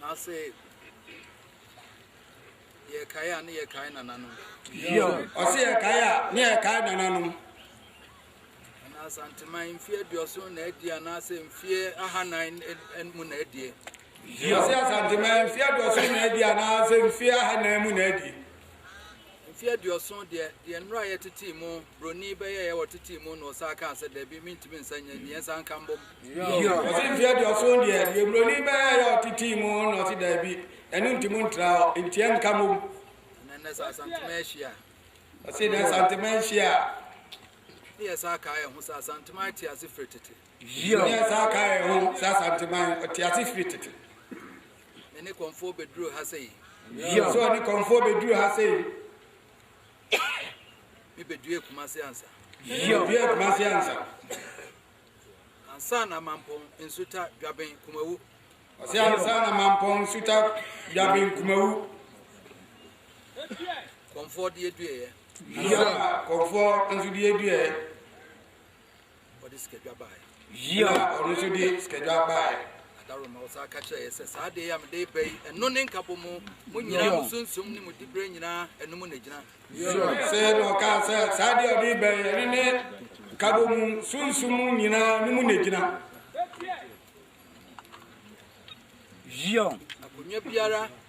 Na se yɛkae a, ne yɛkae nananom. Yo, ɔse yɛkae a, ne yɛkae nananom. Na Asanteman mfie aduɔson na adie anaasɛ mfie ahanan mu na adie? Yo, ɔse Asanteman mfie aduɔson na adie anaasɛ mfie ahanan mu na adie? Mfe aduɔson deɛ, deɛ nnora a yɛtetee mu, broni bɛyɛeɛ wɔ tetee mu na ɔsan kaa sɛ, Dabi, mentumi nsan nyɛ, deɛ nsan nka mbom. Ɔse, Mfe aduɔson deɛ, deɛ broni bɛyɛeɛ a ɔtetee mu na ɔse, Dabi, ɛno nti montra hɔ, nti ɛnka mmom. Na nnɛ sɛ Asantema ahyi a. Ɔse, Nnɛ Asantema ahyi a. Ne yɛ saa kaa yɛn ho sɛ, Asanteman te ase firi tete. Ne yɛ saa kaa yɛn ho sɛ, Asanteman, ɔte ase firi tete. Me ne kɔmfoɔ bɛduru ha sɛ yi. Yɛ so ne kɔmfoɔ bɛduru ha sɛ yi. Me bɛdue kuma se ansa. Yɛ bɛdue kuma se ansa. Ansa na mampɔn nsuta dwaben kumawu. Ɔsɛ ansa na mampɔn nsuta dwaben kumawu. Kɔmfoɔ deɛ dueɛ. Yɛ kɔmfoɔ nso deɛ dueɛ. ɔde sikadwa baeɛ. Yio. Na ɔno nso de sikadwa baeɛ. Adaroma ɔsan aka kyerɛ yɛ sɛ saa adeɛ a mede reba yi ɛno ne nkabɔ mu mo nyinaa mo sunsum ne mo diberɛ nyinaa ɛno mu na gyina. Yio. Sɛ na ɔka sɛ saa adeɛ a ɔde reba yi ɛno ne nkabɔ mu sunsum nyinaa no mu na gyina. Yio. Akonnwa biara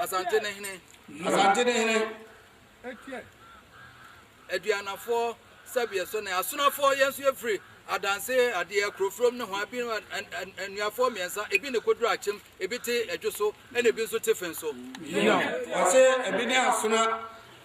Asante ne hene. Asante ne hene. Aduanafoɔ sɛbeɛ so ne asonafoɔ yɛn nso yɛfiri adanse adeɛ kurofurom ne ho abi nnuafoɔ mmiɛnsa ebi ne koduru akyem ebi te adwo so ɛna ebi nso te fen so. yina ɔsɛ ebi ne asona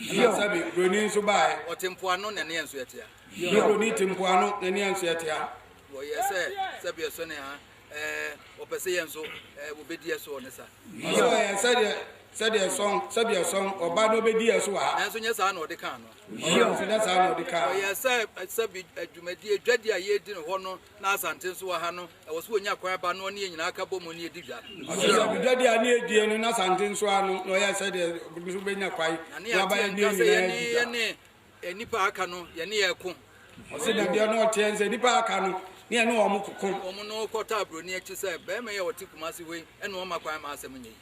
Ɛna sɛbe buroni nso baeɛ. Ɔte mpoano na ne yɛn nso ɛtea. Na buroni te mpoano na ne yɛn nso ɛtea. Wɔyɛ sɛ sɛbe ɛsɔ ne ha ɛɛ wɔpɛ sɛ yɛn nso ɛɛ wɔbɛdi ɛsoɔ ne sa. Na sɛ wɔyɛ sɛdeɛ sɛdeɛ ɛsɔn sɛbe ɛsɔn ɔba na ɔbɛdi ɛso wɔ ha. Nanso nyɛ saa na ɔde kaa no. Nanso nyɛ saa na ɔde kaa. Wɔyɛ sɛ sɛbe adwumadie dwadi a yɛredi no hɔ no na Asante nso wɔ ha no Ɛwɔ so wɔnya kwan ba na ɔne yɛn nyinaa ka bɔ mu ne yɛdi dwa. Ɔsɛ Agudadeɛ a ne yɛdie no n'asante nso ano na ɔyɛ sɛdeɛ nso bɛnya kwan na ne aba yɛn nyinaa adi dwa. Yɛne nnipa a aka no yɛne yɛn ko. Ɔsɛ dadeɛ no ɔteɛ sɛ nnipa a aka no ne yɛne wɔn ko. Wɔn no kɔtaa buroni akyi sɛ, Barima yi a ɔte Kumasi hɔ yi na ɔma kwan ma asɛm nyɛ yi.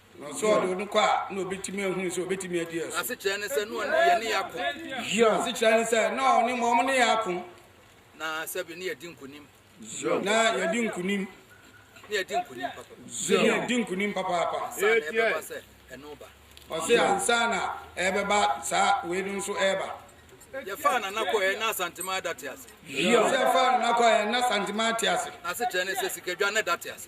Na sɛ ɔde no kɔ a, na obetumi ahunu sɛ obetumi adi ɛso. Asekyerɛ ne sɛ, na ɔne yɛne yɛ ako. Yiw, asekyerɛ ne sɛ, na ɔne ma ɔmo ne yɛ ako. Na sɛbi ne yɛdi nkunim. Yiw, na yɛdi nkunim. Ne yɛdi nkunim papa. Yiw, ne yɛdi nkunim papaapa. Ansa na ɛbɛba sɛ ɛno ba. Ɔse ansa na ɛbɛba saa wei no nso ɛba. Yɛfaa Nana kɔɔ yɛn na Asantema ɛda te ase. Yiw, sɛ yɛfaa Nana kɔɔ yɛn na Asantema te ase. Na asekyerɛ ne sɛ sikadwa na ɛda te ase.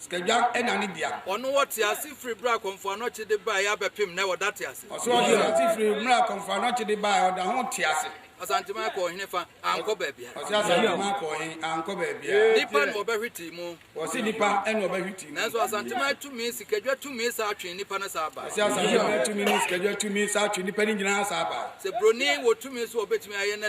Sikadwa na ne dea. Ɔno wɔ tease firi berɛ a Kɔmfoɔ Anɔkye de baeɛ abɛpem nnɛ, ɔda tease. Ɔso wɔ tease firi berɛ a Kɔmfoɔ Anɔkye de baeɛ, ɔda ho tease. Asanteman kɔɔ he fa? Ankɔ baabiara. Ɔse Asanteman kɔɔ he? Ankɔ baabiara. Nipa na ɔbɛhwetee mu. Ɔse nipa na ɔbɛhwetee mu. Nanso Asanteman tumi, Sikadwa tumi saa twee nipa no saa bae. Ɔse Asanteman tumi ne Sikadwa tumi saa twee nipa no nyinaa saa bae. Sɛ Broni wɔ tumi so a ɔbɛtumi ayɛ na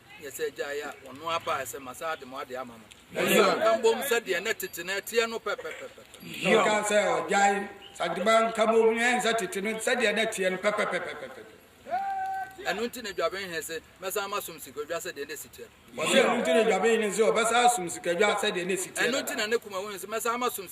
yɛ sɛ gya yɛ ɔno abaa sɛ ma saa de mo ade ama mo na mbom sɛ deɛ ne tete no ɛteɛ no pɛpɛpɛpɛ ɔka sɛ ɔgyae sadeba nka bom ɛnsɛ tete no sɛ deɛ ne teɛ no pɛpɛpɛpɛpɛ ɛno nti na dwaben he se mɛsan masom sikadwa sɛ deɛ ne si teɛ no ɔsɛ ɛno nti na dwaben he se ɔbɛsan asom sikadwa sɛ deɛ ne si teɛ no ɛno nti na ne kuma wo he se mɛsan masom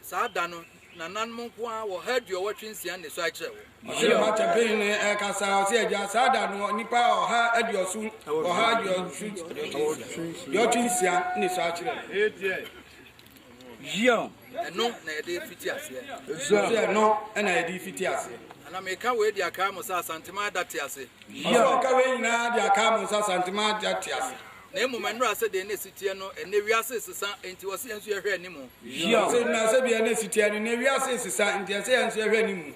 Saa da no, nananom nko ara wɔ ɔha aduɔwɔtwe nsia nnesoa akyerɛ wo. Ɔsɛ ɔha kyɛmpee no ɛkasa, ɔsɛ agya, saa da no nnipa ɔha aduɔso, ɔha aduɔwɔtwe nsia nnesoa akyerɛ wo. Yion. Ɛno na yɛde fiti aseɛ. Yion. Ɛno na yɛde fiti aseɛ. Ana meka wei de akaa mo sɛ Asantema ada te ase. Yion. Meka wei nyinaa de akaa mo sɛ Asantema ada te ase. na mmom ɛnora sɛ deɛ na ɛsi teɛ no ɛnnɛ wiase resesa enti wɔ sɛ yɛn nso yɛhwɛ anim. Wɔ sɛ ɛnora sɛ deɛ na ɛsi teɛ no ɛnnɛ wiase resesa enti ɛsɛ yɛn nso yɛhwɛ anim.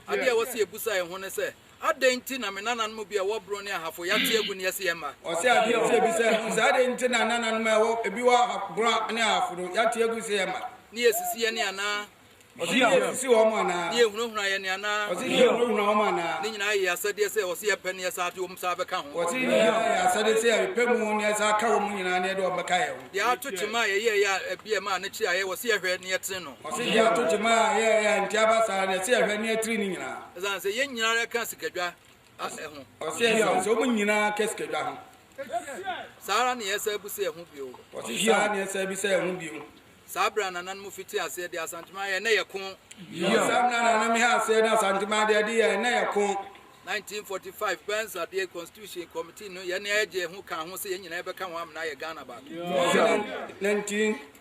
Adeɛ a ɛwɔ sɛ yɛbusa yɛn ho ne sɛ, Adɛn nti na me nananom bi a ɛwɔ Brong ne Ahafo yɛate agu ne yɛse yɛn mma? Wɔ sɛ adeɛ nti yɛbisa yɛn ho sɛ, Adɛn nti na nananom a ɛwɔ ebi wɔ Brong ne Ahafo no yɛate agu sɛ yɛn mma? Ne yɛsisi yɛn anaa? Ɔsi yɛ sisi wɔn mu anaa? Ne yɛ hunahuna yɛ ne anaa? Ɔsi yɛ hunahuna wɔn anaa? Ne nyinaa yɛ asɛdeɛ sɛ ɔsi yɛ pɛ ne yɛ saa de wɔn saa bɛka ho. Ɔsi ne nyinaa yɛ asɛdeɛ sɛ yɛ pɛ mu ne yɛ saa ka wɔn mu nyinaa ne yɛ de wɔn bɛka yɛ ho. Deɛ ato kyema a yɛyɛ yɛ a ɛbi yɛ ma a ne kyerɛ a yɛ ɔsi yɛ hwɛ ne yɛ tiri no. Ɔsi deɛ ato kyema a yɛ yɛ a nti aba saa ne yɛ si yɛ hwɛ ne yɛ tiri ne nyinaa. Ɛsan sɛ yɛ nyinaa yɛ ka sikadwa. Asɛ ho. Ɔsɛ ɛsɛ ho. Sɛ ɔmo nyinaa kɛ sikadwa ho. Saa ara na yɛsɛ bu sɛ ɛho bio. Ɔsɛ saa ara na yɛsɛ bu sɛ ɛho bio. Saa berɛ a nananom fiti aseɛ de Asantema yɛ ɛnɛ yɛ ko. Yiɔ. Saa berɛ a nananom he aseɛ de Asantema deɛ de yɛ ɛnɛ yɛ ko. 1945 Burns adeɛ Constitution Committee no yɛ ne ɛgye ho kaa ho sɛ yɛn nyinaa yɛbɛka ho amena ayɛ Ghana baako. Ɔsɛ 19.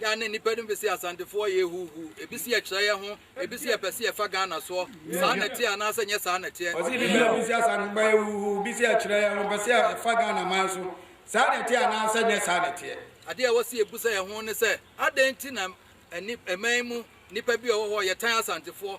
Da ne nnipa no bi se Asantefoɔ yɛ huuhuu, ebi se yɛkyerɛ yɛn ho, ebi se yɛpɛ se yɛfa Ghana soɔ. Saa na ɛteɛ anaasɛ nyɛ saa na ɛteɛ? Ɔse ebi se ebi se Asantefoɔ yɛ huuhuu, ebi se yɛkyerɛ yɛn ho, yɛpɛ se yɛfa Ghana man so. Saa na ɛteɛ anaasɛ nyɛ saa na ɛteɛ? Adeɛ a ɛwɔ se yɛbusa yɛn ho ne sɛ, adɛn nti na ɛman mu nnipa bi a wɔwɔ hɔ yɛtan Asantefoɔ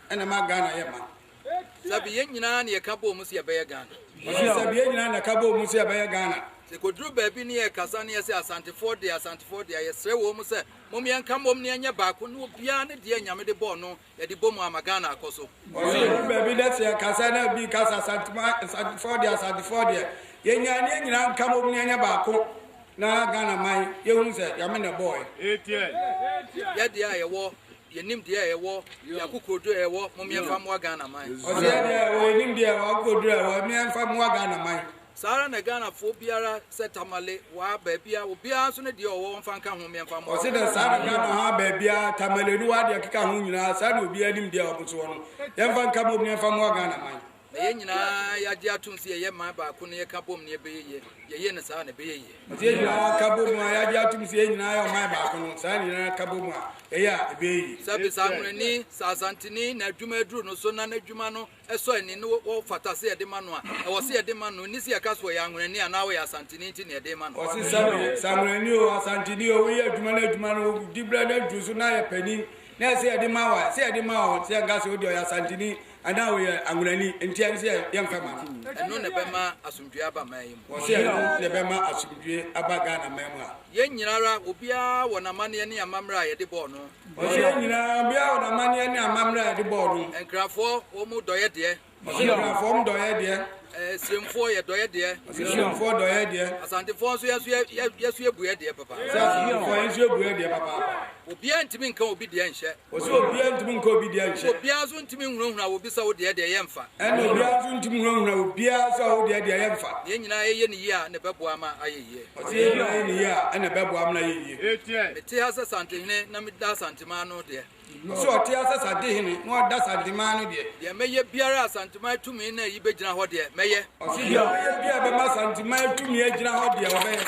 Ɛna ɛma Ghana yɛ ma. Sɛbi yɛn nyinaa na yɛka bɔɔ mu sɛ yɛbɛyɛ Ghana. Ɔse sɛbi yɛn nyinaa na yɛka bɔɔ mu sɛ yɛbɛyɛ Ghana. Sɛ ɛkɔduru baabi ne yɛrekasa ne yɛse Asantefoɔ deɛ, Asantefoɔ deɛ a, yɛsrɛ wɔ mu sɛ mom yɛnka mmom na yɛnyɛ baako na obiara ne deɛ Nyame de bɔɔ no yɛde bɔ mu ama Ghana akɔ so. Ɔse yɛduru baabi na sɛ yɛkasa na obi reka sɛ Asantefoɔ deɛ, Asantefoɔ deɛ, yɛnyae na yɛn nyinaa nka mmom na yɛnyɛ baako na Ghana man yɛhunu sɛ Nyame na ɛbɔɔ yɛn. Yɛdeɛ a yɛwɔ Yɛ nimdeɛ a ɛwɔ yɛ akokoɔduro a ɛwɔ momeɛ mfa moa Ghana man. Ɔseɛ deɛ ɔwɔ yɛ nimdeɛ a ɛwɔ akokoɔduro a ɛwɔ momeɛ mfa moa Ghana man. Saa ara na Ghana foɔ biara sɛ Tamale waa baabiara obiara nso ne deɛ ɔwɔ wɔmfa nka ho meɛ mfa moa. Ɔse dɛ saa na Ghana haa baabiara Tamale ne waa deɛ ɛkeka ho nyinaa saa na obiara nimdeɛ a wɔn nso wɔ no yɛmfa nka momeɛ mfa moa Ghana man. Na yɛn nyinaa yɛagye atom sɛ yɛyɛ man baako na yɛka bom na yɛbɛyɛ yie. Yɛyɛ no saa a, na ɛbɛyɛ yie. Ɔsɛ yɛn nyinaa ka bom a yɛagye atom sɛ yɛn nyinaa yɛ ɔman baako no, saa na yɛn nyinaa ka bom a yɛyɛ a, ɛbɛyɛ yie. Sɛ Bisanwonani, sɛ Asanteni na adwuma aduru no so na n'adwuma no sɔ ani na wɔfata sɛ yɛde ma no a, ɛwɔ sɛ yɛde ma no. Ɛnni sɛ yɛka sɛ ɔyɛ Anwonani anaa ɔyɛ Asanteni nti na yɛde rema no. Ɔsɛ sɛ Bisanwonani oo, Asanteni oo, woyɛ adwuma na adwuma no di berɛ na aduru so na yɛ panin na ɛsɛ yɛde ma wo a, ɛsɛ yɛde ma wo. Sɛ yɛnka sɛ wode ɔyɛ Asanteni Anaa wɔyɛ anwonani nti ɛne sɛ yɛmfa ma no. Ɛno na ɛbɛma asomdwoeɛ aba man yi mu. Wɔse ɛno na ɛbɛma asomdwoeɛ aba Ghana man mu a. Yɛn nyina ara obiara wɔ n'amanneɛ ne amammerɛ a yɛde bɔɔ no. Wɔse yɛn nyina ara obiara wɔ n'amanneɛ ne amammerɛ a yɛde bɔɔ no. Nkrafoɔ wɔn dɔeɛ deɛ. Wɔse nkrafoɔ wɔn dɔeɛ deɛ. Asiemfoɔ yɛ dɔeɛ deɛ. Wɔse Asiemfoɔ dɔeɛ deɛ. Asantefoɔ nso yɛn nso yɛn nso yɛbuɛ deɛ papaapa. Wɔse Asantefoɔ yɛn nso yɛbuɛ deɛ papaapa. Obiara ntumi nka obi deɛ nhyɛ. Ɔse obiaa ntumi nkɔ obi deɛ nkyɛ. Obiaa nso ntumi nhunahuna wo bi sɛ wo deɛ deɛ yɛ mfa. Ɛna obiaa nso ntumi nhunahuna wo biaa nso a wo deɛ deɛ yɛ mfa. Na yɛn nyinaa yɛyɛ no yie a ɛna ɛbɛboa ama ayɛ yie. Ɔse yɛn nyinaa yɛ no yie a ɛna ɛbɛboa ama no ayɛ yie. Mete ha sɛ Santehene na meda Asanteman no deɛ. Ɔse ɔte ha sɛ Santehene na ɔda Asanteman no deɛ. Deɛ mɛyɛ biara a Santiman tumi nna yi bɛgyina hɔ deɛ, mɛyɛ. Ɔse deɛ ɔbɛyɛ biaa bɛma Santiman tumi agyina hɔ deɛ, ɔbɛyɛ.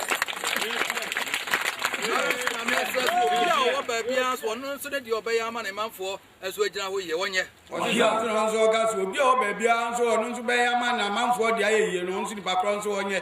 Nanso Nyame akyerɛ sɛ obi a ɔwɔ baabiaa so ɔno nso ne deɛ ɔbɛyɛ ama ne manfoɔ nso agyina hɔ yie, ɔnyɛ. Ɔse Santiman nso ɔka sɛ obi a ɔwɔ baabiaa nso ɔno nso bɛyɛ ama ne amanfoɔ deɛ ayɛ yie no, ɔno nso nipa korɔ nso ɔnyɛ.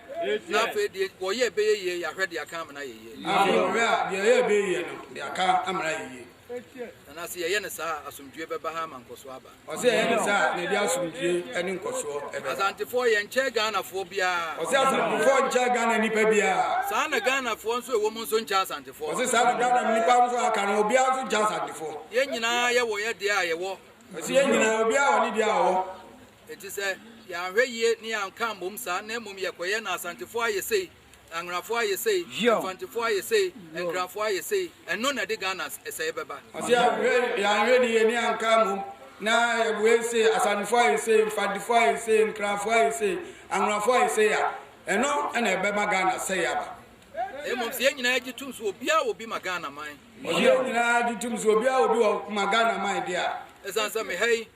Na afei deɛ wɔyɛ ɛbɛyɛ yie yɛ ahwɛ deɛ aka amena yɛ yie. Na afei wɔhwɛ a deɛ ɛyɛ ɛbɛyɛ yie no deɛ aka amena yɛ yie. Na na sɛ yɛyɛ no saa a asomdwoe bɛba ha ama nkɔsoɔ aba. Ɔsɛ yɛyɛ no saa a na ɛde asomdwoe ne nkɔsoɔ bɛba. Asantefoɔ yɛnkyɛ Ghanafoɔ biara. Ɔsɛ Asantefoɔ nkyɛ Ghana nnipa biara. Saa na Ghanafoɔ nso ɛwɔ mu nso nkyɛ Asantefoɔ. Ɔsɛ saa na Ghana nnipa nso a aka no obiara nso nkyɛ Asantefoɔ. Yɛn nyinaa yɛwɔ yɛ deɛ a yɛwɔ. Ɔsɛ yɛn nyinaa obiara wɔ ne deɛ a ɔwɔ. Enti sɛ yɛanhwɛ yie ne yɛanka ammom saa na mmom yɛkɔyɛ na Asantefoɔ ayɛ sei, Anworafoɔ ayɛ sei, Mfantefoɔ ayɛ sei, Nkrafoɔ ayɛ sei, ɛno na ɛde Ghana sɛeɛ bɛba. Ɔse yɛanhwɛ yie ne yɛanka ammom na yɛwɔ wei sei, Asantefoɔ ayɛ sei, Mfantefoɔ ayɛ sei, Nkrafoɔ ayɛ sei, Anworafoɔ ayɛ sei a, ɛno na ɛbɛma Ghana sɛeɛ aba. Mmom sɛ yɛn nyinaa gye tom sɛ obiara wɔ bi ma Ghana man. Ɔse yɛn nyinaa gye tom sɛ obiara wɔ bi wɔ ma Ghana man deɛ a. Ɛsiane sɛ meha yi,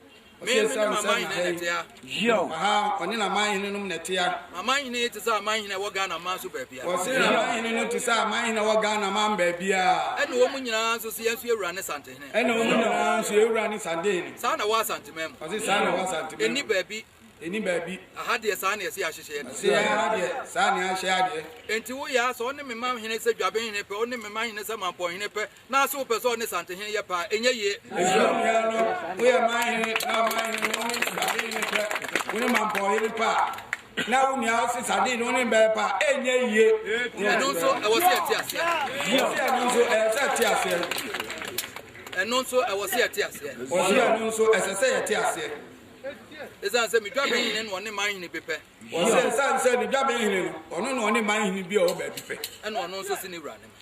Ɔsesaa ne nsa na hɛn hyew. Ɔha ɔne n'amanhene nom na ɛtea. Amanhene yi te sɛ amanhene a ɛwɔ Ghana aman so baabiara. Wɔse amanhene no te sɛ amanhene a ɛwɔ Ghana aman baabiara. Ɛne wɔn nyinaa nso se yɛn nso yɛ wura ne santehene. Ɛne wɔn nyinaa nso yɛ wura ne santehene. Saa na ɛwɔ Asanteman mu. Ɔse saa na ɛwɔ Asanteman mu. Ɛnni baabi. Ɛnni baabi. Aha deɛ saa na yɛse yɛahyehyɛ yɛn. Ɔse aha deɛ saa na yɛahyehyɛ adeɛ. Enti wo yaa sɛ ɔne me manhene sɛ dwabenhene pɛ, ɔne me manhene sɛ mampɔnhene pɛ, na se wopɛ sɛ ɔne Santehene yɛ paa ɛnyɛ yie. Ɛhyira wo nuanom, woyɛ manhene na ɔmanhene no wone Santehene ne pɛ, wone mampɔnhene paa na wo nua ɔse Santehene no wone mbɛyɛ paa ɛnyɛ yie. Ɛno nso ɛwɔ sɛ ɛte aseɛ. Wɔsi ɛno nso ɛyɛ sɛ ɛte aseɛ. Ɛno nso ɛwɔ sɛ yɛte aseɛ. Wɔsi ɛno nso ɛsɛ sɛ yɛte aseɛ. Ɛsan sɛ medwa bɛnhene no ɔne manhene bi pɛ. Wɔsi ɛsan sɛ medwa bɛnhene no ɔno na ɔne manhene bi a ɔwɔ baabi pɛ. Ɛna ɔno nso se ne wura ne ma.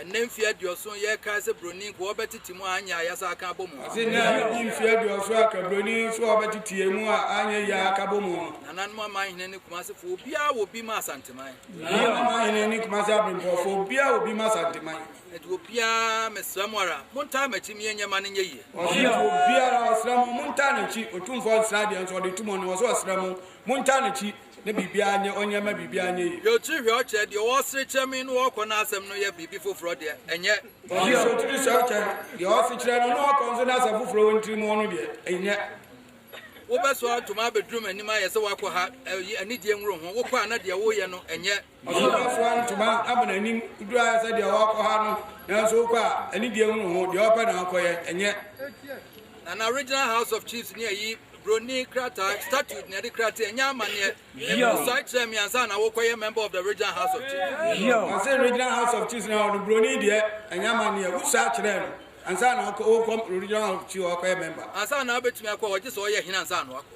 Ɛnnɛ mfie aduɔson yɛkaa sɛ broni nkoa ɔbɛtete mu a anyɛ a yasa aka abɔ mu. Ɔse nnɛ adi mfie aduɔson aka broni nso a ɔbɛteteɛ mu a anyɛ yie a aka bɔ mu no. Nananom amanhene ne Kumase foɔ obiara wɔ bi ma Asanteman. Nananom amanhene ne Kumase abrempɔn foɔ obiara wɔ bi ma Asanteman. Enti obiara mesrɛ mo ara montaa m'akyi me yɛnyɛ ma no nyɛ yie. Ɔse enti obiara ɔsrɛ mo montaa n'akyi, Otumfoɔ nsra deɛ nso ɔde to mu no ɔse ɔsrɛ mo montaa n'akyi. Ne biribiara nyɛ ɔnyɛ ma biribiara nyɛ yie. Deɛ ɔtiri hwɛ ɔkyerɛ deɛ ɔwɔ serekyerɛ me na ɔkɔ n'asɛm no yɛ biribi foforɔ deɛ, ɛnyɛ. Deɛ ɔtiri hwɛ ɔkyerɛ deɛ ɔwɔ sekyerɛ no na ɔkɔ nso n'asɛm foforɔ wɔ ne tiri mu no deɛ, ɛnyɛ. Wobɛsoa ntoma abɛduru m'anim ayɛ sɛ woakɔ ha, ɛyi, anidie nworo ho, wokɔ a na deɛ woreyɛ no, ɛnyɛ. Ɔsomafoɔ antuma ama n'anim duru ayɛ sɛ deɛ ɔɔkɔ ha no, nanso wokɔ a, anidie ho ho, deɛ ɔɔpɛ na ɔɔkɔyɛ, ɛnyɛ. Na na Regional House of Chiefs ne ayi, broni krataa, statute, na ɛde krataa nya amanneɛ, mmusuae kyerɛɛ me ansa na wokɔyɛ member of the Regional House of Chiefs. Ɔse Regional House of Chiefs no hɔ no, broni deɛ ɛnya amanneɛ, wosuae kyerɛɛ no ansa na wokɔ Regional House of Chiefs hɔ akɔyɛ member. Ansa na wobɛtumi akɔ hɔ, gye sɛ ɔyɛ hene ansa na wakɔ.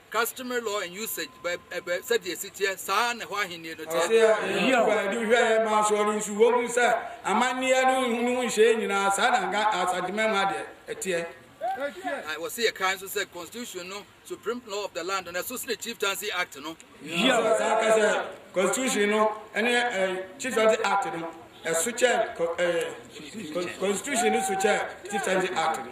Customary law and usage by ɛbɛ sɛdeɛ ɛsi teɛ saa ara na ɛhɔ ahennie no teɛ. Ɔseɛ ɛyi aba adi hwɛɛ ma asɔɔ no nso wɔhunu sɛ amanneɛ no ho no ho nhyeɛ nyinaa saa na nka Asanteman mu adeɛ ɛteɛ. Na wɔse yɛkae nso sɛ Constitution no supreme law of the land no ɛso sene Chieftaincy Act no. Ɛyi aba saa ka sɛ Constitution no ne ɛɛ Chieftaincy Act no ɛso kyɛn ɛɛ Constitution no so kyɛn Chieftaincy Act no.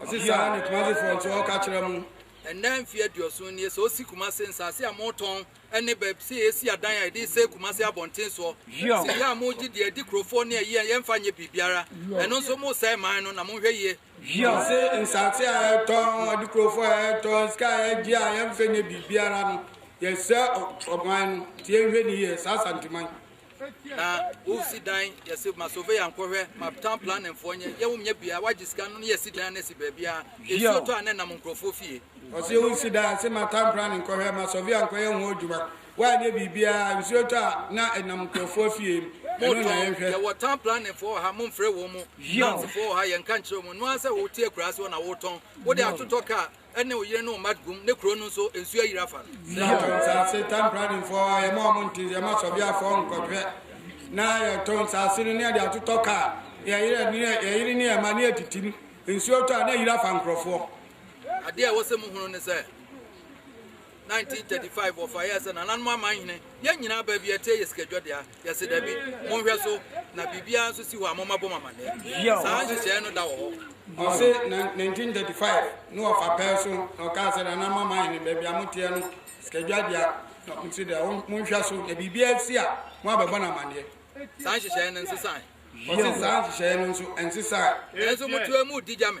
Ɔse saa ne Kumasi foɔ nso ɔka kyerɛ mo. Ɛnnɛ mfeɛ aduoson nie sɛ ɔsi Kumasi nsaase a motɔn ɛne bɛb sɛ yɛsi adan a yɛde sɛe Kumasi abɔnten soɔ sɛ yɛ a mogye deɛ ɛdi kurofoɔ ne ayie yɛmfa nyɛ biribiara ɛno nso mosɛe man no na monhwɛ yie. Ɔse nsaase a yɛtɔn ɛde kurofoɔ a yɛtɔn sika a yɛgye a yɛmfa nyɛ biribiara no yɛsɛe ɔman no nti yɛnhwɛ ne yie saa Asanteman. Na wo si dan yɛsi ma surveyor nkɔhwɛ ma town planning foɔ nyɛ yɛ wɔn nyɛ bia wagye sika no yɛ si dan na si baabi a esuo tɔ a ne nam nkurɔfoɔ fie. Ɔsi wo si dan si ma town planning nkɔhwɛ ma surveyor nkɔyɛ ho adwuma wanyɛ biribia nsuo tɔ a na enam nkurɔfoɔ fie no ɛno na yɛn hwɛ. Yɛwɔ town planning foɔ wɔ ha mo nfrɛ wɔn mo nansifoɔ wɔ ha yɛn nka nkyerɛ wɔn noa sɛ wo te akuraase hɔ na wo tɔn wo de atotɔ car. ne wo yere ne wo mma gum ne kuro no nso nsuo ayiri afa no. Yɛ to nsaase tan pradinfoɔ a yɛma ɔmo nti yɛma sɔbiafoɔ nkɔhwɛ na yɛto nsaase no ne yɛde atotɔ kaa yɛyere ne yɛyere ne yɛma ne yɛtitim nsuo tɔ a na ayiri afa nkorɔfoɔ. Adeɛ a ɛwɔ sɛ mohunu ne sɛ. 1935 wɔfa yɛɛ sɛ nananom aman hene yɛn nyinaa baa bi ɛteɛ yɛ sikadwa dea yɛse dabi monhwɛ so na biribiara nso si hɔ a moma bɔ mamanneɛ saa nhyehyɛeɛ no da wɔ hɔ ɔse 1935 ne wɔfa pɛɛ so na ɔkaa sɛ nananom aman hene baabi a moteɛ no sikadwa dea na mose dea monhwɛ so na biribiara si a mo abɛbɔ no amanneɛ saa nhyehyɛeɛ no nsesae ɔse saa nhyehyɛeɛ no nso nsesae nanso motoa mu di gya me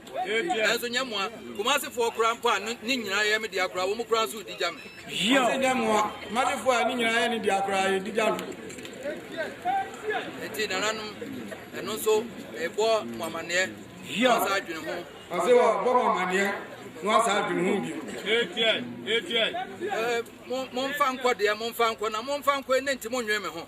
Nanso nyɛ mmoa. Kumasefoɔ koraa mpo a ne nyinaa yɛ me dea koraa, wɔn koraa nso redi gya me. Wɔse nyɛ mmoa. Kumasefoɔ a ne nyinaa yɛ ne dea koraa, yɛdi gya no. Enti nananom, ɛno nso ɛbɔ mo amanneɛ na asa adwene ho. Ɔse wɔbɔ mo amanneɛ na asa adwene ho bio. Momfa nkɔ deɛ, momfa nkɔ na momfa nkɔ ɛnɛ nti monnwene me ho.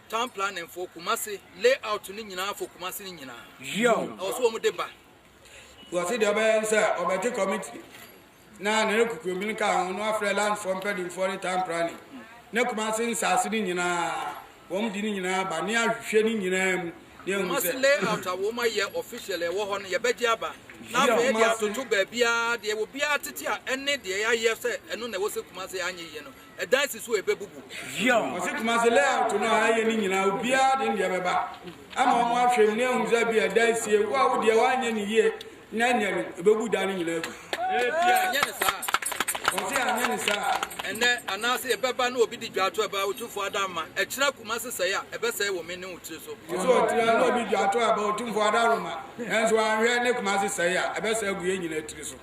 Town planning fo kumase lay out no nyinaa fo kumase no nyinaa. Yiaw. Ɛwɔ so wɔn de ba. Wɔsi deɛ ɔbɛyɛ nsɛ ɔbɛte committee na ne ne kukuromi no ka ho no afrɛ land fo mpɛdimfoɔ ne town planning ne kumase nsaase no nyinaa wɔn de ne nyinaa ba ne ahwehwɛ ne nyinaa mu ne ehu sɛ. Kumase lay out a wɔn ayɛ official ɛwɔ hɔ no yɛbɛgye aba na afei yɛde atoto baabiara deɛ obiara tete a ɛne deɛ yɛayɛ sɛ ɛno na ɛwɔ sɛ kumase anyɛ yie no. ɛdan si so a ɛbɛbubu. Zion. Wɔsi Kumasi layout no a ɛyɛ ne nyinaa obiara de ne deɛ bɛba ama wɔn ahwɛ mu ne ahu sɛ bi ɛdan sie wo a wodeɛ woanyɛ ne yie na nyɛ no ɛbɛbu dan no nyinaa agu. Ɛnyɛ ne saa. Wɔsi anyɛ ne saa. Ɛnɛ anaasɛ ɛbɛba na obi di dwa ato ɛba otumfoɔ ada ma ɛkyerɛ Kumasi sɛe a ɛbɛsɛe wɔ me ne wo tiri so. Wɔsi ɔtiri na obi dwa ato ɛba otumfoɔ ada roma nanso anhwɛ ne Kumasi sɛe a ɛbɛsɛe agu yɛn nyinaa tiri so.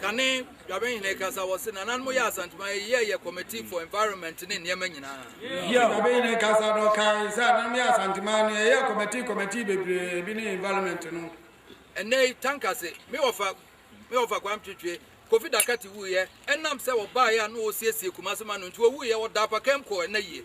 kane Dwabenhene kasa wɔ se nananom yɛ Asanteman yi yɛ yɛ committee for environment ne nneɛma nyinaa. Yɛ Dwabenhene kasa no kae sɛ ananom yɛ Asanteman no yɛyɛ committee committee bebree bi ne environment no. Ɛnnɛ yi tanka se me wɔfa me wɔfa Kwame Twetwe Kofi Dakati wuiɛ ɛnam sɛ wɔbaeɛ a na wɔresiesie Kumase ma no nti wɔwuiɛ wɔdaa pakam kɔɔ ɛnnɛ yie.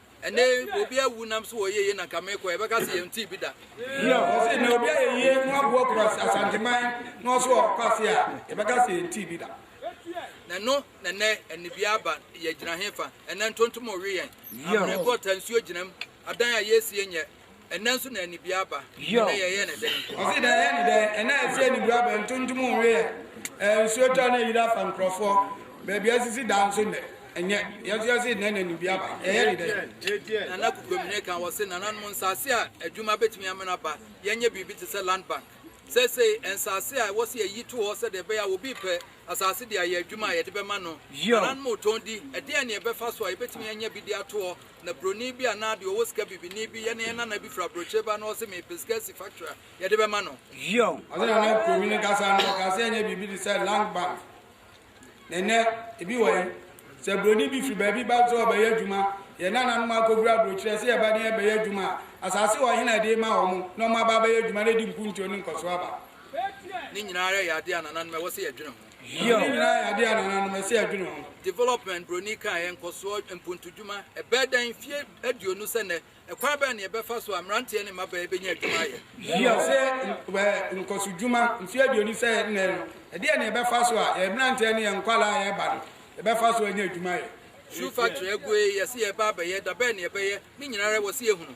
ɛnɛ obi awu nam so wɔyɛ yie na nka mekɔ yɛbɛka sɛ yɛntee bi da ɔse na obi ayɛ yie na waboa kura asanteman na ɔso ɔkɔ ase a yɛbɛka sɛ yɛntee bi da na ɛno na ɛnɛ anibia aba yɛgyina hefa ɛnɛ ntontom ɔwe yɛn abrɛkɔ ta nsuo gyinam adan a yɛsie nyɛ Ɛnnɛ nso na anibia aba. Ɛnnɛ yɛyɛ no dɛn? Ɔse na yɛyɛ no dɛn? Ɛnnɛ a ɛsɛ anibia aba, ntontom nweɛ, ɛɛ nsuo tɔ na ayiri afa nkorɔfoɔ, baabi asisi dan nso nnɛ, ɛnyɛ, yɛn nso yɛse nnɛ na anibia aba, yɛyɛ no dɛn? Nana Kukwamine ka, ɔse nananom nsaase a adwuma bɛtumi amene aba, yɛnyɛ biribi te sɛ land bank, seesei nsaase a ɛwɔ sɛ yɛyi to hɔ sɛdeɛ ɛbɛyɛ a obi repɛ asaase de ayɛ adwuma a yɛde bɛma no, nananom retɔn di, ɛdeɛn na yɛbɛfa so a yɛbɛtumi anya bi de ato hɔ? Na broni bi anaa deɛ ɔwɔ sika bibini bi yɛ ne yɛn nana bi firi aburokyire ba na ɔse mepɛ sika asi factory a yɛde bɛma no. Zion. Ɔsɛ na na kurobi no kasa no ɔka sɛ ɛnyɛ biribi te sɛ land bank na ɛnɛ ebi wɔ he sɛ broni bi firi baabi ba sɛ ɔbɛyɛ adwuma yɛn nananom akɔfiri aburokyerɛ sɛ yɛba ne yɛbɛyɛ adwuma a asase wɔ he na ɛde ma wɔn na wɔn aba abɛyɛ adwuma na ɛde nkuntuo ne nkɔsoɔ aba. Ne nyinaa ara yɛ adeɛ a nananom ɛwɔ sɛ yɛdwene ho. Hiob. Development Broni Kaeɛ Nkɔsoɔ Mpontudwuma Ɛbɛyɛ dɛn mfeɛ aduonu sɛ nnɛ? Ɛkwan bɛn na yɛbɛfa so a mmeranteɛ ne mmabaa yi bɛnya adwuma ayɛ? Hiob. Sɛ nkɔsodwuma mfeɛ aduonu sɛ nnɛ no, ɛdeɛn na yɛbɛfa so a yɛn mmeranteɛ ne yɛn nkwadaa a ɛreba no, yɛbɛfa so anya adwuma ayɛ? Shoe Factory Agu Ee Yɛse Yɛreba Abɛyɛ Da Bɛn Na Yɛbɛyɛ? Ne Nyinaa Ara Wɔ Se Yɛhunu.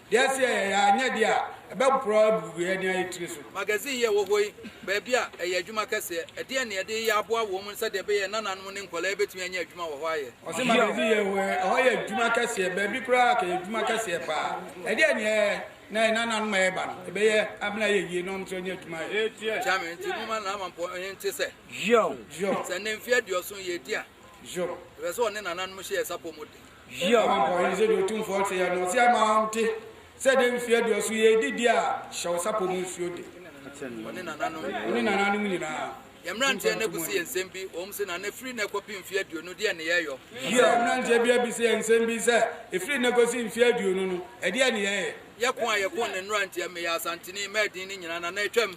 Deɛ ɛsɛ yɛ yɛ a, nyɛ deɛ a ɛbɛporɔ agugu yɛn ne ayɛ tiri so. Magazine yi a ɛwɔ hɔ yi, baabi a ɛyɛ adwuma kɛseɛ. Ɛdeɛn na yɛde reyɛ aboa wɔ mu sɛdeɛ ɛbɛyɛ a nananom ne nkwadaa yi bɛtumi anya adwuma wɔ hɔ ayɛ? Ɔse magazine yi a ɛwɔ hɔ yi, ɛhɔ yɛ adwuma kɛseɛ, baabi koraa ka yɛ adwuma kɛseɛ pa ara. Ɛdeɛn na yɛyɛ na yɛ nananom a yɛreba no, ɛbɛyɛ abena ayɛ yie na wɔn nso anya adwuma ayɛ? Kyerɛ me, Nti moma Laamampɔ he nte sɛ, sɛ nnɛ mfeɛ aduɔson yɛredi a, yɛpɛ sɛ wɔne nananom hyɛ yɛ sapɔ mu den. Yiw, Ɔhempɔn yi, sɛdeɛ Otumfoɔ teɛ, na ɔse ama wonte, sɛ dee mfie aduɔso yi edi deɛ a hyɛ wo sapɔ mu nsuo de. Wo ne nananom. Wo ne nananom nyinaa. Yɛn mmeranteɛ no abisa yɛn nsɛm bi, wɔn se, Nana, ɛfiri nnɛ kɔpem mfeɛ aduonu, deɛn ne yɛyɔ? Yiw, mmeranteɛ bi abisa yɛn nsɛm bi sɛ, Ɛfiri nnɛ kɔsi mfeɛ aduonu no, ɛdeɛn ne yɛyɛ? Yɛko a yɛko ne mmeranteɛ, meyɛ Asanteni, mɛɛ din no nyinaa, Nana, atwam.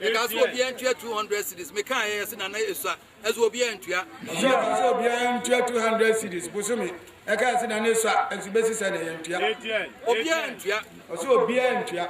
Mekaa sɛ obiara ntua 200 cities. Mekaa yɛ sɛ nana esua. Ɛso obiara ntua. Ɛso ɛte sɛ obiara ntua 200 cities. Bosome ɛkaa sɛ nana esua. Ɛso bɛsi sɛ na yɛntua. Obiara ntua. Ɔsɛ obiara ntua.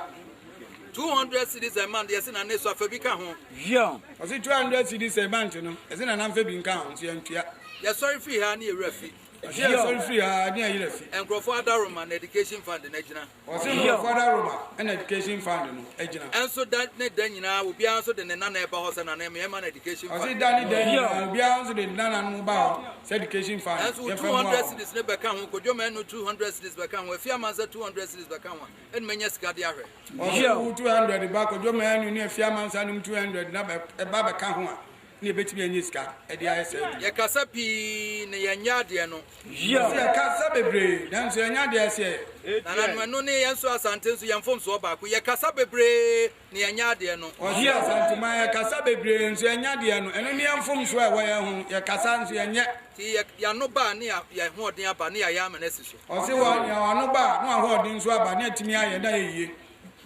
200 cities a month yɛsɛ nana esua fa bi ka ho. Zion. Ɔsɛ 200 cities a month no ɛsɛ nana mfa bi nka ho nso yɛntua. Yɛsɔre firi ha ne yɛwura fi. Ɔsɛ yɛsɔre firi ha ne yɛyerɛ fi. Nkurɔfoɔ adaroma na education fund no agyina. Ɔse no wɔ Father Roma ɛna Education Fund no agyina. Ɛnso da ne da nyinaa obiara nso de ne nana ɛba hɔ sɛ nana ɛmɛ yɛn ma no Education Fund. Ɔse da ne da nyinaa obiara nso de nana no ba hɔ sɛ Education Fund yɛn fɛ mua wɔn. Ɛnso wo 200 cedis no bɛka ho, Kwadwo ma ɛno 200 cedis bɛka ho, Afia Mansa 200 cedis bɛka ho a, ɛne mɛnya sika de ahwɛ. Ɔse wo 200 ba Kwadwo ma ɛno ne Afia Mansa nom 200 na ɛba bɛka ho a, na yɛbɛtumi anya sika de ayɛ saa adwuma. Yɛkasa pii na yɛnyɛ adeɛ no. Yɛse yɛkasa bebree nanso yɛnyɛ adeɛ ɛse yɛyɛ. Nananom ɛno ne yɛn nso Asante nso yɛn mfomsoɔ baako yɛkasa bebree na yɛnyɛ adeɛ no. Ɔse Asante man yɛkasa bebree nso yɛnyɛ adeɛ no ɛno ne yɛn mfomsoɔ ɛwɔ yɛn ho yɛkasa nso yɛnyɛ. Nti yɛano ba a ne yɛahoɔden aba ne yɛayɛ ama no asi so. Ɔse wɔ yɛano ba a ne w'ahoɔden nso aba ne yɛatumi ayɛ na ayɛ yie.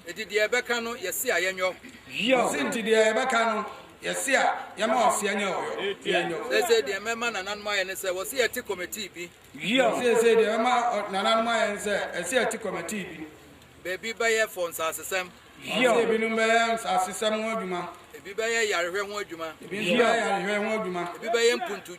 Enti deɛ ɛbɛka no, yɛse a yɛnyɔ. Yɔ. Ɔse, Enti deɛ ɛbɛka no, yɛse a yɛma ɔse a nyɛ ɔyɔ, yɛnyɔ. Seesei deɛ mɛma nananom ayɛ ne sɛ, wɔse yɛte kɔmɛtii bi. Yɔ. Seesei deɛ mɛma nananom ayɛ ne sɛ, ɛse yɛte kɔmɛtii bi. Baabi bɛyɛ fɔ nsasesɛm. Yɔ. Ɔse, Ebinom bɛyɛ nsasesɛm ho adwuma. Ebi bɛyɛ yarehwɛ ho adwuma. Ebi nso bɛyɛ yarehwɛ ho adwuma. Ebi bɛyɛ mpuntu.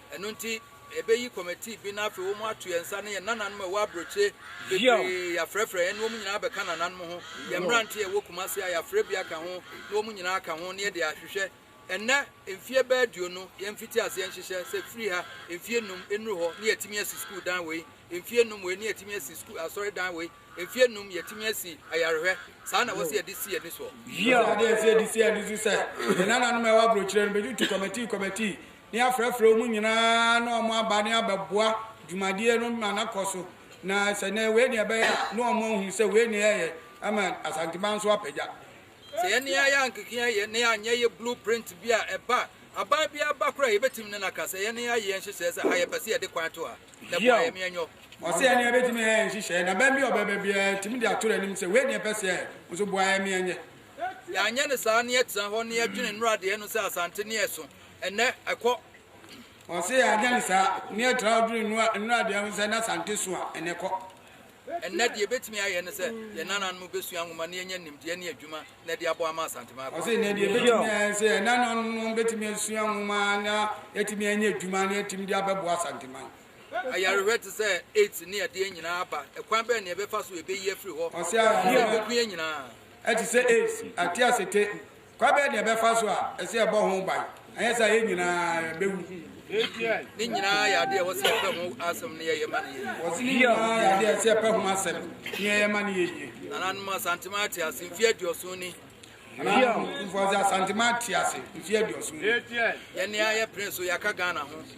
Ɛno nti, yɛbɛyi kɔmɛtii bi na afei wɔn ato yɛn nsa ne yɛn nananom a ɛwɔ aburokyire bebree, yɛafrɛfrɛ yɛn ne wɔn nyinaa abɛka nananom ho, yɛn mmeranteɛ a ɛwɔ Kumasi a yɛafrɛ bi aka ho ne wɔn nyinaa aka ho na yɛde ahwehwɛ. Ɛnnɛ, mfeɛ bɛyɛ aduonu, yɛn mfiti aseɛ nhyehyɛ sɛ firi ha mfeɛ nnum nnuru hɔ na yɛatumi asi sukuu dan wei, mfeɛ nnum wei na yɛatumi asi sukuu asɔre dan wei, mfeɛ nnum yɛatumi asi ayarehwɛ, saa na ɛwɔ sɛ yɛde si yɛn ani soɔ. Ɛwɔ sɛ yɛde yɛn nsa di si yɛn ani so sɛ yɛn nananom a ɛwɔ aburokyire no bɛtutu kɔmɛtii kɔmɛtii ne yɛafrɛfrɛ wɔn nyinaa na wɔn aba ne abɛboa dwumadie no ma na kɔ so na sɛ nɛ wei ne ɛbɛyɛ a na wɔn ahunu sɛ wei ne ɛyɛ ama Asanteman nso apagya. Sɛ yɛn ne ayɛ ankekea yɛ ne anyɛ yɛ blue print bi a ɛba a aban bi aba koraa a yɛbɛtumi ne no aka sɛ yɛn ne ayɛ yɛn nhyehyɛɛ sɛ ha yɛpɛ sɛ yɛde kwan to ha na boa yɛn meɛ nyɔ. Ɔsɛ yɛn ne yɛbɛtumi ayɛ yɛn nhyehyɛɛ na aban bi a ɔbɛba biara yɛtumi de ato n'anim sɛ wei ne yɛpɛ sɛ yɛyɛ nso boa yɛn meɛ nyɛ. Yɛanyɛ no saa ne yɛtena hɔ ne yɛdwene nnuradeɛ no sɛ Asante ne ɛso Ɛnnɛ ɛkɔ. Ɔse agya no saa. Ne ɛtra wo dwene nnua nnura deɛ ho sɛ na Asante so a ɛnɛ ɛkɔ. Ɛnnɛ deɛ ɛbɛtumi ayɛ ne sɛ yɛn nananom bɛsua nwoma na yɛnya nimdeɛ ne adwuma na ɛde abɔ ama Asante ma akɔ. Ɔse ɛnnɛ deɛ ɛbɛtumi ayɛ ne sɛ yɛn nananom bɛtumi asua nwoma na yɛatumi anya adwuma na yɛatumi de abɛboa Asante man. Ayarehwɛ te sɛ AIDS ne ɛdeɛ nyinaa aba. Ɛkwan bɛn na yɛbɛfa so yɛbɛyi afiri hɔ? Ɔse ayarehwɛ ɛbɛku yɛn nyinaa. Te sɛ AIDS, ate asete, Kwan bɛn na yɛbɛfa so a ɛsɛ sɛ yɛbɔ ho ban, anyɛ saa a yɛn nyinaa yɛbɛwu? Ne nyinaa yɛ adeɛ a wɔsɛ yɛpɛ ho asɛm ne yɛyɛ ma no yɛ yie. Wɔse ne nyinaa yɛ adeɛ a ɛsɛ yɛpɛ ho asɛm ne yɛyɛ ma no yɛ yie. Nananom Asantema ate ase mfeɛ aduɔson ni. Nananom Mfɔse Asantema ate ase mfeɛ aduɔson ni. Yɛn nea yɛpene so yɛaka Ghana ho.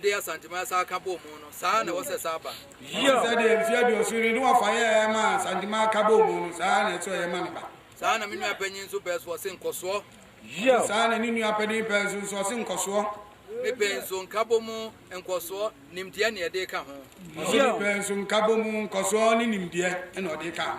de Asanteman san ka bɔɔ mu no, saa ara na ɛwɔ sɛ ɛsan ba. Ɛwom sɛ deɛ mfeɛ aduoson ni ne wɔfa yɛɛ maa Asanteman ka bɔɔ mu no, saa ara na ɛsɛ sɛ ɔyɛ ma ne ba. Saa ara na me nua panin nso pɛɛ so ɔse nkɔsoɔ. Ɛwom saa ara na ne nua panin pɛɛ so nso ɔse nkɔsoɔ. Me pɛɛ nso nkabɔ mu nkɔsoɔ, nimdeɛ na ɛde ka ho. Ɔse me pɛɛ nso nkabɔ mu nkɔsoɔ ne nimdeɛ na ɔde ka ho.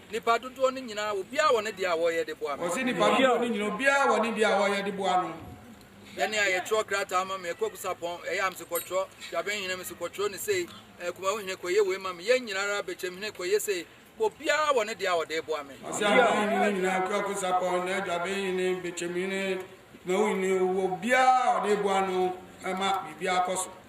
Nnipa dodoɔ no nyinaa wɔ biara wɔ ne deɛ a wɔreyɛ de boa no. Ɔse nnipa dodoɔ no nyinaa obiara wɔ ne deɛ a ɔreyɛ de boa no. Ɛne a yɛtwerɛ krataa ma me Kwaku Sapɔn ɛyɛ a mese kɔtwerɛ Dwaben hene mese kɔtwerɛ ne sei ɛɛ Kumawu hene kɔyɛ wei ma me yɛn nyinaa ara Bɛkyɛm hene kɔyɛ sei bɔ biara wɔ ne deɛ a ɔde reboa me. Ɔse aban hene no nyinaa Kwaku Sapɔn ne Dwaben hene Bɛkyɛm hene Kumawu hene wɔ biara a ɔde reboa no ma biribiara kɔ so.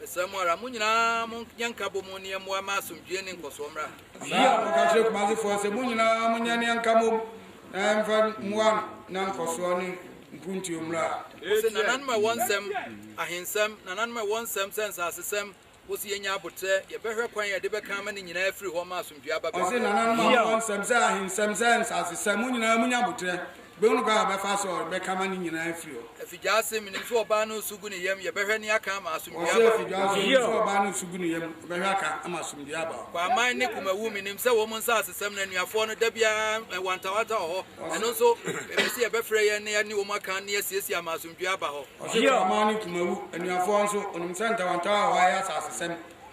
Mesrɛ mo ara, mo nyinaa mo nyɛ nka bɔ mu ne yɛn mmoa ma asomdwie ne nkɔsoɔ mmra ha. Saa ara na ɔka kyerɛɛ Kumasefoɔ sɛ, mo nyinaa mo nyɛ ne yɛn nka bɔ mu na yɛmfa mmoa na nkɔsoɔ ne mpuntuo mmra ha. Wɔse, Nananom a ɛwɔ nsɛm, ahensɛm, nananom a ɛwɔ nsɛm sɛ nsasesɛm, wɔse yɛnya aboterɛ, yɛbɛhwɛ kwan a yɛde bɛka ama ne nyinaa afiri hɔ ma asomdwie aba baabiara. Ɔse, Nananom a mowɔ nsɛm sɛ ahensɛm, sɛ nsasesɛm, mo nyinaa monya aboterɛ, Bɛhu no kwan a ɔbɛfa so a ɔde bɛka ama ne nyinaa afiri hɔ. Afidwaase, Menim sɛ ɔbaa no resu gu ne yam, yɛbɛhwɛ ne aka ama asomdwoe aba. Ɔse Afidwaase, Menim sɛ ɔbaa no resu gu ne yam, yɛbɛhwɛ aka ama asomdwoe aba. Kwaaman ne Kumawu, Menim sɛ wɔn nsasesɛm no anuafoɔ no da biara wantawanta wɔ hɔ, ɛno nso mepɛ sɛ yɛbɛfrɛ yɛn na yɛne wɔn aka na yɛasiesie ama asomdwoe aba hɔ. Ɔse Kwaaman ne Kumawu, anuafoɔ nso, wɔnim sɛ ntawantawa wɔ hɔ a ɛyɛ asasesɛm,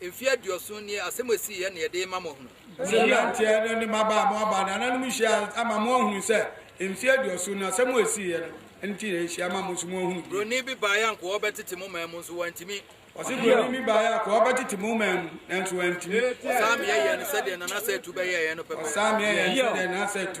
Mfe aduɔson nie asɛm a ɛsii yɛ na yɛde rema mo ahunu. Sɛ mmeranteɛ no ne mmabaa a moaba nananom nhyia ama moahunu sɛ mfe aduɔson no asɛm a ɛsii yɛ no nti na yɛahyia ama mo nso moahunu bi. Buroni bi baeɛ a nkoa ɔbɛtete mo man mu nso wantumi. Ɔse buroni bi baeɛ a nkoa ɔbɛtete mo man mu nanso wantumi. Ɔsaa meɛ yɛɛ no sɛdeɛ Nana Satu bɛyɛɛeɛ no pɛpɛɛpɛ. Ɔsaa meɛ yɛɛ no sɛdeɛ Nana Satu.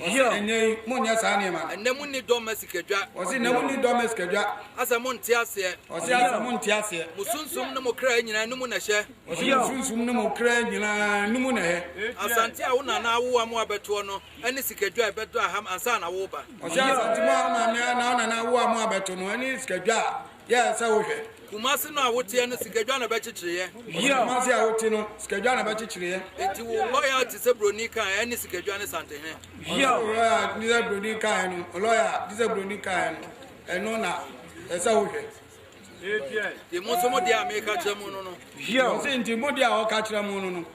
Wɔsi ɛnnɛ yi mo nyɛ saa nneɛma no. Ɛnnɛ mo nni dɔ mma sikadwa. Wɔsi ɛnnɛ mo nni dɔ mma sikadwa. Asɛ mo nte aseɛ. Wɔsi asɛ mo nte aseɛ. Mo sunsum ne mo kraa nyinaa ɛno mu na ɛhyɛ. Wɔsi mo sunsum ne mo kraa nyinaa ɛno mu na ɛhyɛ. Asante a wo nana awo a mo abɛtoɔ no ɛne sikadwa a ɛbɛdɔ aha ansa na wo reba. Wɔsi asante mo a wo maame anaa wo nana awo a mo abɛto no ɛne sikadwa a Yɛ sɛ wohwɛ. Kumase no a woteɛ no sikadwa na bɛkyekyereɛ. Yie a Kumase a wote no sikadwa na bɛkyekyereɛ. Enti wo lɔya te sɛ broni kaeɛ ɛne sikadwa ne santehene. Yie a wo lɔya te sɛ broni kaeɛ no lɔya te sɛ broni kaeɛ no ɛno na ɛsɛ wohwɛ. Enti mo nso mo deɛ a meka kyerɛ mo no no. Yie a ɔse enti mo deɛ a ɔka kyerɛ mo no no.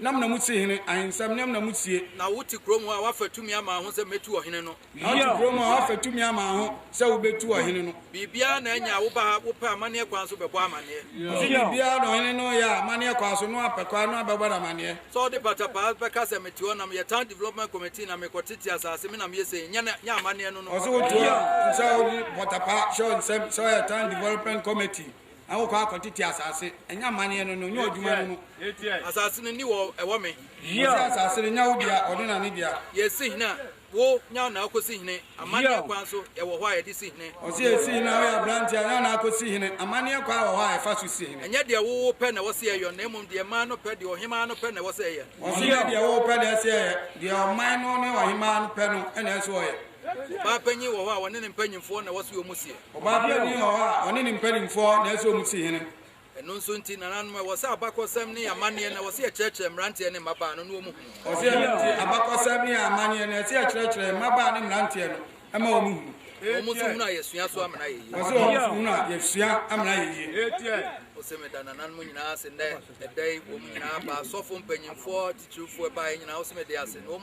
Nam na mutsie hene ahensɛm, nam na mutsie. Na wote kurom hɔ a wɔafa tumi ama ho sɛ metu ɔhene no. Na wote kurom hɔ a wɔafa tumi ama ho sɛ wobetu ɔhene no. Biribiara na anya a woba ha, wopɛ amanneɛ kwan so bɛbɔ amanneɛ. Ɔse biribiara na ɔhene no yɛ a, amanneɛ kwan so, no apɛ kwan, no abɛbɔ no amanneɛ. Sɛ ɔde pata paa bɛka sɛ mete hɔ na meyɛ town development committee na mekɔtete asase, me na meyɛ sei, nyɛ no, nyɛ amanneɛ no no. Ɔse wote hɔ a, nsɛ ɔde pata paa hyɛ wo nsam sɛ woyɛ town development committee Na wokɔ ara kɔtete asase. Ɛnyɛ amanneɛ no, na ɔnyɛ ɔdwuma no no. Asase no nni wɔ ɛwɔ me. Ɔse asase no nyɛ wo dea, ɔde na ne dea. Yɛsi hene a, wo nya na akɔsi hene. Amanneɛ kwan so ɛwɔ hɔ a yɛde si hene. Ɔse yɛsi hene a, woyɛ aberanteɛ a, nya na akɔsi hene. Amanneɛ kwan wɔ hɔ a yɛfa so si hene. Ɛnyɛ deɛ wo wo pɛ na ɛwɔ sɛ yɛyɔ, na mmom deɛ man no pɛ, deɛ ɔhemaa no pɛ na ɛwɔ sɛ ɛyɛ. Ɔse nyɛ deɛ wo wo pɛ na ɛsɛ yɛyɛ, deɛ ɔman no ne ɔhemaa no pɛ no na ɛsɛ ɔyɛ. Ɔbaa panyin wɔ hɔ a, ɔne ne mpanyimfoɔ na ɛwɔ sɛ wɔn mu seɛ. Ɔbaa biara nni hɔ a ɔne ne mpanimfoɔ na ɛsɛ wɔsi hene. Ɛno nso nti, nananom, ɛwɔ sɛ abakɔsɛm ne amanneɛ no, ɛwɔ sɛ yɛkyerɛkyerɛ mmeranteɛ ne mmabaa no na wɔhu. Ɛwɔ sɛ ɛno nti, abakɔsɛm ne amanneɛ no, ɛsɛ sɛ yɛkyerɛkyerɛ mmabaa ne mmeranteɛ no ma wɔhu. Wɔn nso hunu a yɛsua so amena ayɛ yie. Ɛwɔ sɛ wɔn nso hunu a yɛsua amena ayɛ yie. Ose meda nananom nyinaa ase nnɛ ɛda yi wɔn nyinaa baa asɔfo mpanyinfoɔ titirifoɔ ɛbaeɛ nyinaa ose mede ase na wɔn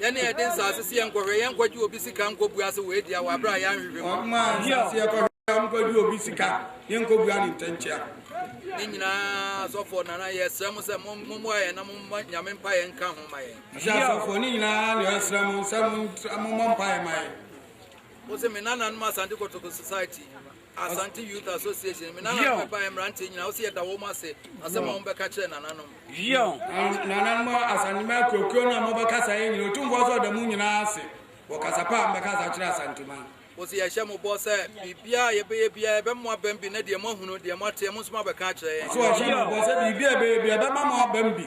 Yɛn a yɛde nsase si yɛn nkɔhwɛ, yɛn nkɔgye obi sika nkɔbua ase wɔ Adia wɔ abere a yɛanhwehwɛ mu. Wɔn a nsase yɛkɔhwɛ a wɔnkɔgye obi sika, yɛn nkɔbua ne ntɛnkyea. Ne nyinaa asɔfoɔ nana yɛsrɛ mo sɛ mommoa yɛn na momma nyame mpa yɛn nka ho ma yɛn. Ɔsɛ asɔfoɔ ne nyinaa na yɛsrɛ mo sɛ mommɔ mpa yɛn ma yɛn. Ɔsɛ me nananom Asante Kotoko Society. Asante Youth Association. Me nana no bɛba mmeranteɛ nyinaa wosɛ yɛda wɔm ase asɛm a wɔbɛka kyerɛ nananom. Yion nananom asantema kurokuo no a mobɛkasa yɛ nyina ɔtumfoɔ sɛ ɔda mu nyinaa ase wɔ kasa pa a mbɛkasa kyerɛ asantema. Wosɛ yɛhyɛ mo bɔ sɛ biribiaa yɛbɛyɛ biaa ɛbɛmo abam bi na deɛ moahunu deɛ moateɛ mo nso moabɛka akyerɛ yɛn. So wɔhyɛ mo bɔ sɛ biribiaa yɛbɛyɛ biaa ɛbɛma mo abam bi